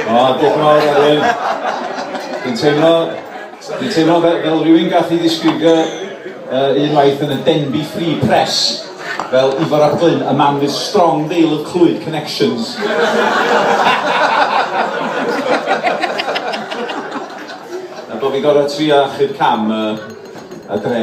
O, diolch yn fawr, Arian. Dwi'n teimlo, dwi'n teimlo fel, fel rhywun gath i ddisgrifio uh, unwaith yn y Denby Free Press fel Ifor ap Glyn, a man with strong veil of Clwyd connections. a bod fi'n gorau trio achub cam uh, a dre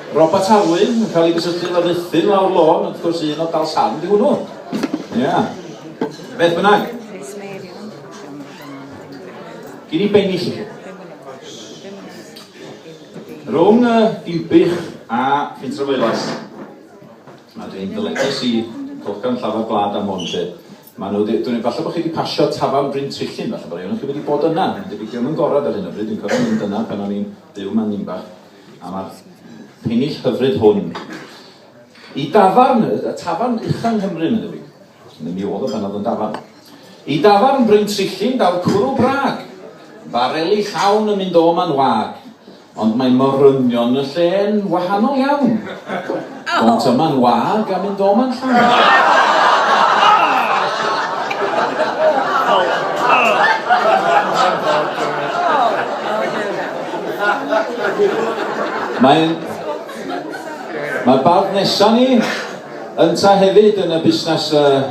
Robert Alwyn yn cael ei gysylltu efo Ruthun lawr lôn, wrth gwrs un o Dalsarn di hwnnw. Ia. Beth bynnag. Gyn i bennill i chi. Rhwng y Dinbych a Ffintrefoelas. Mae dwi'n dyledus i Golcan Llafar Blad am hwn, lle. Mae nhw, dwi'n ei falle bod chi wedi pasio Tafan Bryn Trillin, falle bod rhywun chi wedi bod yna. Mae'n debyg diolch yn gorau ar hyn o bryd, dwi'n cofio mynd yna pan o'n i'n byw man Nimbach. am y pennill hyfryd hwn i dafarn, y tafarn ucha yng Nghymru, meddw i. Neu mi oedd o pan oedd yn dafarn. I dafarn Bryn Trillin daw'r cwrw brag, bareli llawn yn mynd o ma'n wag, ond mae morynion y lle'n wahanol iawn. Ond dyma'n wag a mynd o man llaw. Mae Mae'r bardd nesa ni ynta hefyd yn y busnes uh,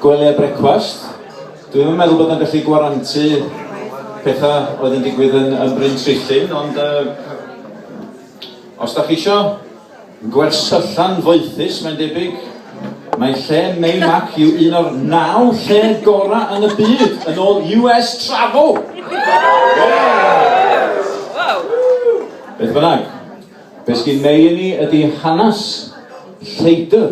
gwely a brecwast. Dwi'n meddwl bod yn gallu gwarantu pethau oedd yn digwydd yn, yn Bryn Trillin, ond uh, os da chi eisiau Gwersyllan foethus mae'n debyg. Mae lle Meimac yw un o'r naw lle gorau yn y byd, yn ôl US Travel! Beth bynnag, be sgyn Mei i ni ydy hanes lleidr.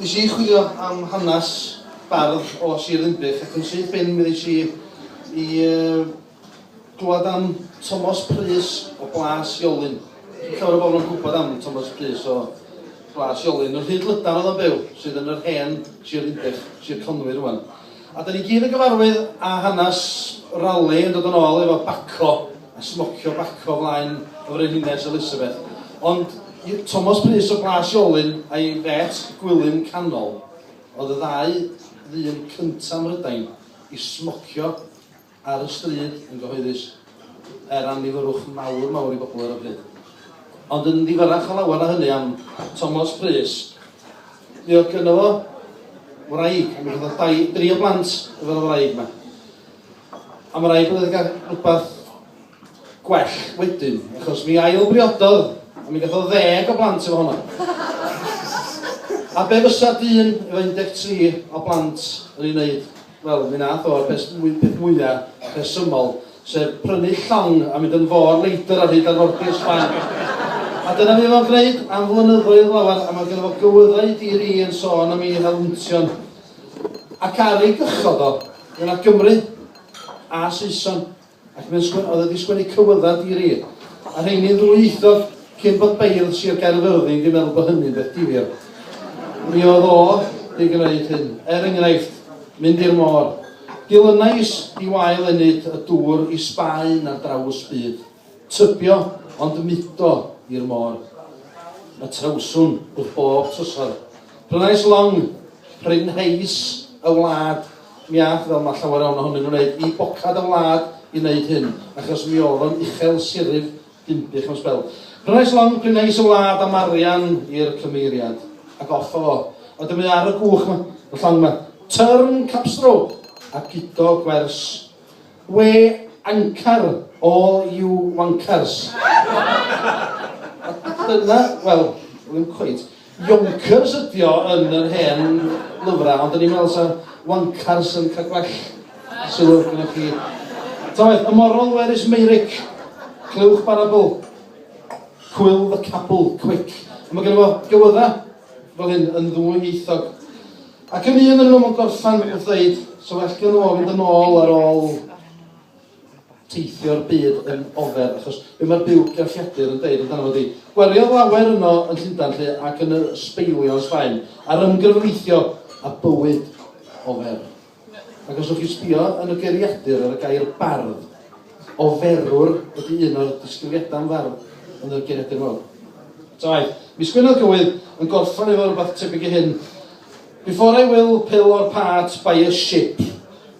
Nes i chwilio am hanes bardd o Sir Ddinbych ac yn syth bin mi ddeis i i glywed am Tomos Prys o Blas Iolyn. Dim llawer o bobl yn gwybod am Tomos Prys o Blas Iolyn. Yn Rhyd Lydan oedd o'n byw, sydd yn yr hen Sir Ddinbych, Sir Conwy rwan. A dan ni gyd yn gyfarwydd â hanes Raleigh yn dod yn ôl efo baco a smocio baco flaen y Frenhines Elizabeth. Ond i'r Tomos Prys o Blas Iolyn a'i fetch Gwilym Canol oedd y ddau ddyn cynta' Mhrydain i smocio ar y stryd yn gyhoeddus, er annifyrwch mawr mawr i bobl ar y pryd. Ond yn ddifyrrach o lawer na hynny am Tomos Prys, mi oedd gynno fo wraig, a mi oedd dau, dri o blant efo'r wraig yma. Am wraig oedd wedi cael rhywbeth gwell wedyn, achos mi ail-briododd a mi gath o ddeg o blant efo honna. A be fysa dyn efo 13 o blant yn ei wneud? Wel, mi nath o'r peth mwy, peth mwya rhesymol, sef prynu llong a mynd yn fôr leidr ar hyd arfordir Sbaen. A dyna mi fo'n gwneud am flynyddoedd lawer, a mae gen fo gywyddau i dir i yn sôn am ei helwntion. Ac ar ei gychod o, fe na Gymry a Saeson. ac mae'n sgwennu, oedd wedi sgwennu cywyddau di ri, a rheini'n ddwyieithog cyn bod beirdd Sir Gaerfyrddin di meddwl bod hynny'n beth difyr. Mi oedd o di gwneud hyn, er enghraifft, mynd i'r môr. Dilynais di wael enyd y dŵr i Sbaen ar draws byd. Tybio, ond mudo i'r môr. Y trawswn wrth bob trysor. Prynais long, prynheis y wlad, Mi aeth, fel mae llawer iawn ohonyn nhw'n wneud, i bocad y wlad i wneud hyn, achos mi oedd o'n uchel siryf Dinbych am sbel. Prynais long prynais y wlad am arian i'r cymeiriad, ac offa fo, a dyma ar y gwch 'ma, y llong 'ma, Turn Capstrow, a gudo gwers We anchor all you wankers. Dyna, wel, ddim cweit. Yonkers ydi o yn yr hen lyfrau, ond o'n i'n meddwl sa wankers yn cael gwell sylw gyda chi. Tawaeth, y moral where is Meyrick? Clywch barabl. Cwyl the capel, quick. A mae gen fo gywyddau fel hyn yn ddwyieithog. Ac yn un yn nhw yn gorffan wrth ddeud, so well gen nhw fynd yn ôl ar ôl teithio'r byd yn ofer, achos be mae'r byw gelliadur yn deud amdano fo di. Gweliodd lawer yno yn Llundan lle ac yn y sbeilio yn Sbaen, ar ymgyrweithio a bywyd ofer. Ac os o'ch chi'n sbio yn y geiriadur ar y gair bardd, Oferwr ydy un o'r disgrifiadau am farw yn y Genedl Mawr. Tawai. Mis Gwener Cywydd yn gorffan efo rwbath tebyg i hyn, Before I will pill or part by a ship,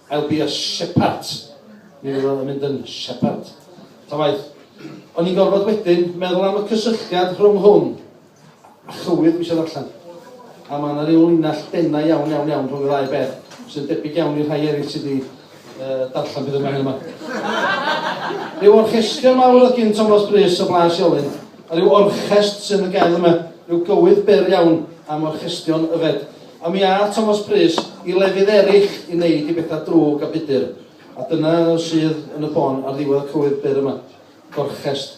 I'll be a shepart. Mi fydd o yn mynd yn shepart. Tawai. O'n i'n gorfod wedyn meddwl am y cysylltiad rhwng hwn A chywydd dwi isio ddarllen. A mae yna ryw linell denau iawn, iawn, iawn rhwng y ddau beth, sy'n debyg iawn i'r rhai eraill sydd wedi uh, darllen beth yma hyn yma. Rhyw orchestion mawr oedd gyn Thomas Brys o Blas Iolyn, a rhyw orchest sy'n y gael yma, rhyw gywydd byr iawn am orchestion yfed. A mi a Thomas Brys i lefydd eraill i wneud i bethau drwg a budur. A dyna sydd yn y bôn ar ddiwedd y cywydd byr yma. Gorchest.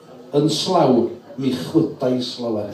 Yn slaw, mi chwydais lawer.